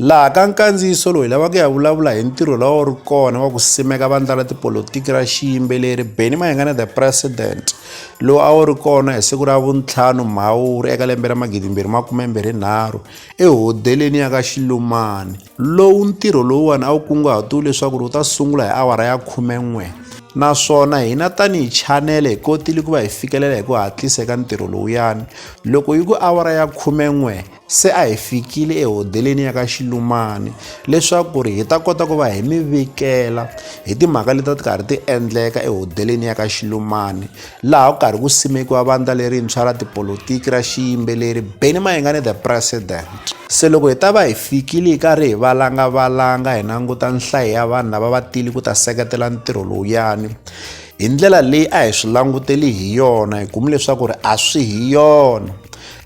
Laha ka nkandziyiso lowu hi lava ku ya vulavula hi ntirho lowu ri kona wa ku simeka vandla ra tipolotiki ra xiyimbeleri Benny Mayengana the President lowu a wu ri kona hi siku ra vuntlhanu Mhawuri eka lembe ra magidi mbirhi makume mbirhi nharhu ehodeleni ya ka Xilumani lowu ntirho lowuwani a wu kunguhatiwe leswaku wu ta sungula hi awara ya khume n'we naswona hina tanihi chanele hi kotile ku va hi fikelela hi ku hatlisa eka ntirho lowuyani loko yi ku awara ya khume n'we se a hi fikile ehodeleni ya ka xilumani leswaku ri hi ta kota ku va hi mi vikela hi timhaka leti ti karhi ti endleka ehodeleni ya ka xilumani laha ku karhi ku simekiwa vandla lerintshwa ra tipolotiki ra xiyimbeleri beni mayengani the president se loko hi ta va hi fikile hi karhi hi valangavalanga hi languta nhlayo ya vanhu lava va tili ku ta seketela ntirho lowuyani hi ndlela leyi a hi swi languteli hi yona hi kume leswaku ri a swi hi yona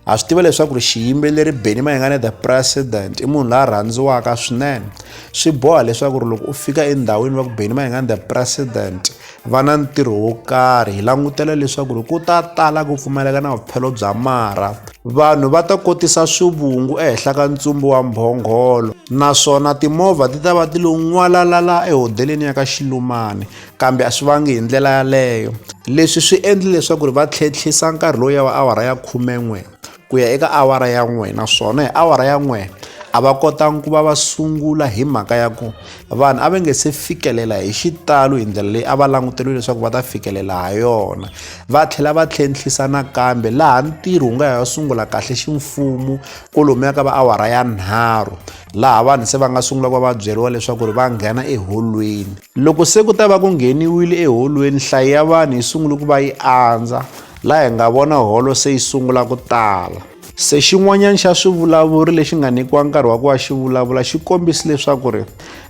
ha swi tiva leswaku ri xiyimbeleri benny mayengane the president i munhu la rhandziwaka swinene swi boha leswaku ri loko u fika endhawini va ku benny mayengane the president va na ntirho wo karhi hi langutela leswaku ri ku ta tala ku pfumaleka na vuphelo bya marha vanhu va ta kotisa swivungu ehenhla ka ntsumbu wa mhongholo naswona timovha ti ta va ti lo n'walalala ehodeleni ya ka xilumani kambe a swi vangi hi ndlela yaleyo leswi swi endli leswaku ri va tlhentlhisa nkarhi lowu ya va awara ya khumen'we ku ya eka awara ya n'we naswona hi awara ya n'we a va kotangi ku va va sungula hi mhaka ya ku vanhu a va nge se fikelela hi xitalo hi ndlela leyi a va languteriwe leswaku va ta fikelela ha yona va tlhela va tlhentlhisa nakambe laha ntirho wu nga ha sungula kahle ximfumo kolomu ya ka va awara ya nharhu laha vanhu se va nga sungula ku va va byeriwa leswaku ri va nghena eholweni loko se ku ta va ku ngheniwile eholweni nhlayo ya vanhu yi sungule ku va yi andza laha hi nga vona holo se yi sungula ku tala se xin'wanyana xa swivulavuri lexi nga nyikiwa nkarhi wa ku va xi vulavula xi kombisi leswaku ri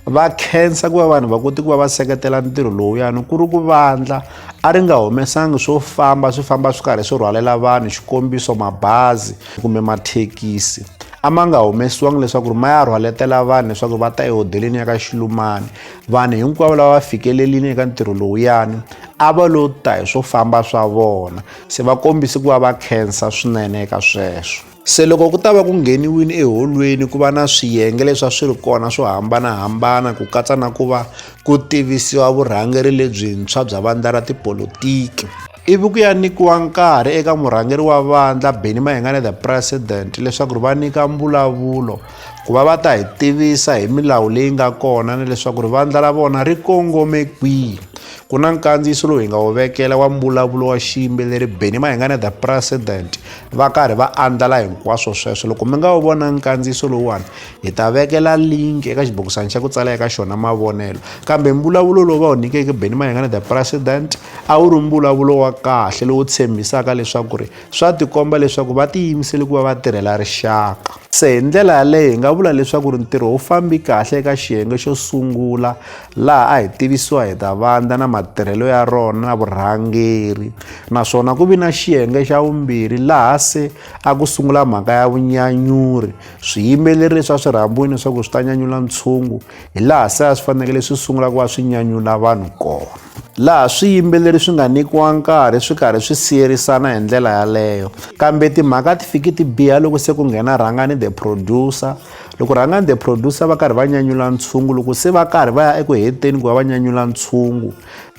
va khensa ku va vanhu va koti ku va va seketela ntirho lowuyani ku ri ku vandla a ri nga humesangi swo famba swi famba swi karhi swi rhwalela vanhu xikombiso mabazi kumbe mathekisi a ma nga humesiwangi leswaku ri ma ya rhwaletela vanhu leswaku va ta ehodeleni ya ka xilumani vanhu hinkwavo lava va fikelelini eka ntirho lowuyani a va lo ta hi swo famba swa vona se va kombise ku va va khensa swinene eka sweswo se loko ku ta va ku ngheniwini eholweni ku va na swiyenge leswi a swi ri kona swo hambanahambana ku katsa na ku va ku tivisiwa vurhangeri lebyintshwa bya vandla ra tipolotiki ivi ku ya nyikiwa nkarhi eka murhangeri wa vandla beni mahingane the president leswaku ri va nyika mbulavulo ku va va ta hi tivisa hi milawu leyi nga kona ni leswaku ri vandla ra vona ri kongome kwihi ku na nkandziyiso lowu hi nga wu vekela wa mbulavulo wa xiyimbeleri beni mahingane the president va karhi va andlala hinkwaswo sweswo loko mi nga wu vona nkandziyiso lowuwani Hi ta vekela link eka xibokisana xa ku tsala eka xona mavonelo kambe mbulavulo lowu va wu nyikeke Benny Mayengana the president a wu ri mbulavulo wa kahle lowu tshembisaka leswaku ri swa tikomba leswaku va tiyimisele ku va va tirhela rixaka se hi ndlela yaleyo hi nga vula leswaku ri ntirho wu fambi kahle eka xiyenge xo sungula laha a hi tivisiwa hi ta vandla na matirhelo ya rona na vurhangeri naswona ku vi na xiyenge xa vumbirhi laha se a ku sungula mhaka ya vunyanyuri swiyimeleri swa swirhambwini swa ku swi ta nyanyula ntshungu hi laha se a swi fanekele swi sungula ku va swi nyanyula vanhu kona laha swiyimbeleri swi nga nyikiwa nkarhi swi karhi swi siyerisana hi ndlela yaleyo kambe timhaka ti fiki ti biha loko se ku nghena rhangani the producer loko rhangani the producer va karhi va nyanyula ntshungu loko se va karhi va ya eku heteni ku va va nyanyula ntshungu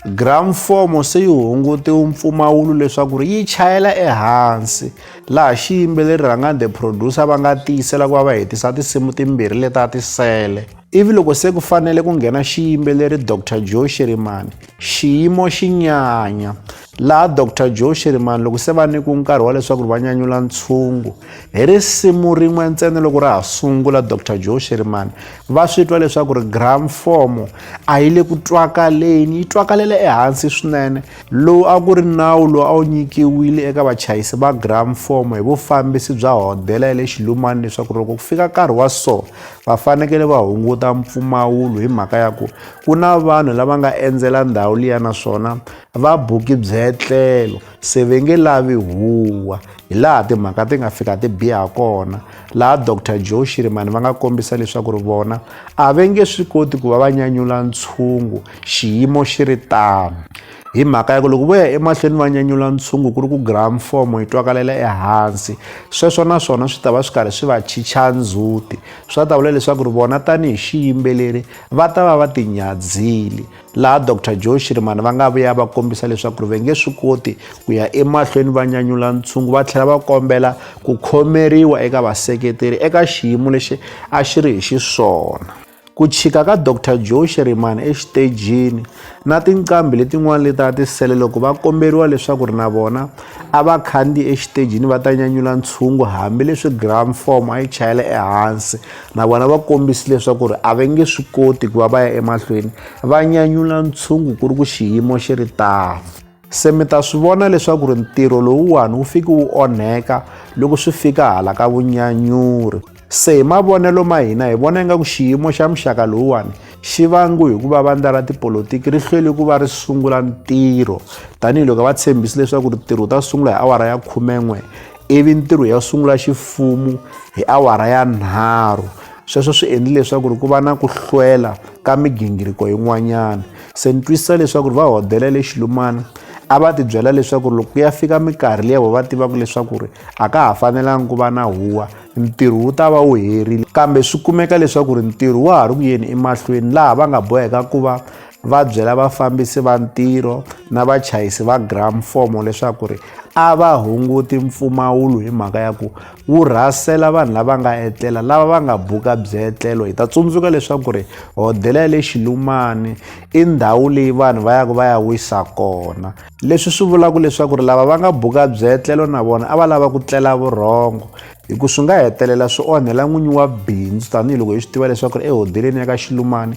gramfomo se yi hungutiwe mpfumawulo leswaku ri yi chayela ehansi laha xiyimbeleri rhangani the producer va nga tiyisela ku va va hetisa tinsimu timbirhi leti a ti sele ivi loko se ku fanele ku nghena xiyimbeleri dr joe shirimani xiyimo xi nyanya laha dr joe shirimani loko se va nyikiwe nkarhi wa leswaku va nyanyula ntshungu hi risimu rin'we ntsena loko ra ha sungula dr joe shirimani va swi twa leswaku ri gramfomo a yi le ku twakaleni yi twakalela ehansi swinene Lowu a ku ri nawu lowu a wu nyikiwile eka vachayisi va gramfomo hi vufambisi bya hodela ya le Xilumani leswaku loko ku fika nkarhi wa so va fanekele va hunguta mpfumawulo hi mhaka ya ku ku na vanhu lava nga endzela ndhawu liya naswona va buki byetlelo se ve nge lavi huwa hi laha timhaka ti nga fika ti biha kona laha Dr Joe Shirimani va nga kombisa leswaku ri vona a ve nge swi koti ku va va nyanyula ntshungu Xiyimo xi ri tano. Hi mhaka ya ku loko vo ya emahlweni va nyanyula ntshungu ku ri ku gramfomo yi twakalela ehansi, sweswo na swona swi ta va swi karhi swi va chicha ndzhuti. Swi ta vula leswaku ri vona tanihi xiyimbeleri va ta va va tinyadzhile. Laha Doctor Joe Shirimani va nga vuya va kombisa leswaku ri va nge swi koti ku ya emahlweni va nyanyula ntshungu va tlhela va kombela ku khomeriwa eka vaseketeri eka xiyimo lexi a xi ri hi xiswona. Ku chika ka Dr Joe Shirimani exitejini na tinqambi letin'wana leti a ti sele loko va komberiwa leswaku ri na vona a va khandziyi exitejini va ta nyanyula ntshungu hambileswi gram form a yi chayela ehansi na vona va kombisi leswaku ri a va nge swi koti ku va va ya emahlweni va nyanyula ntshungu ku ri ku xiyimo xi ri tano se mi ta swi vona leswaku ri ntirho lowuwani wu fiki wu onheka loko swi fika hala ka vunyanyuri se hi mavonelo ma hina hi vona ingaku xiyimo xa muxaka lowuwani xi vangu hi ku va vandla ra tipolotiki ri hlweli ku va ri sungula ntirho tanihiloko va tshembisi leswaku ri ntirho wu ta sungula hi awara ya khumen'we ivi ntirho ya sungula xifumu hi awara ya nharhu sweswo swi endli leswaku ri ku va na ku hlwela ka migingiriko yin'wanyana se ni twisisa leswaku ri va hodela le xilumana a va ti byela leswaku loko ku ya fika minkarhi leyi vo va tivaka leswaku ri a ka ha fanelanga ku va na huwa ntirho wu ta va wu herile kambe swi kumeka leswaku ri ntirho wa ha ri ku yeni emahlweni laha va nga boheka ku va va byela vafambisi va ntirho na vachayisi va gramfomo leswaku ri a va hunguti mpfumawulo hi mhaka ya ku wu rhasela vanhu lava nga etlela lava va nga buka byetlelo hi ta tsundzuka leswaku ri hodela ya le xilumani i ndhawu leyi vanhu va yaka va ya wisa kona leswi swi vulaka leswaku ri lava va nga buka byetlelo na vona a va lava ku tlela vurhongo hi ku swi nga hetelela swi onhela n'winyi wa bindzu tanihiloko hi swi tiva leswaku ri ehodeleni ya ka xilumani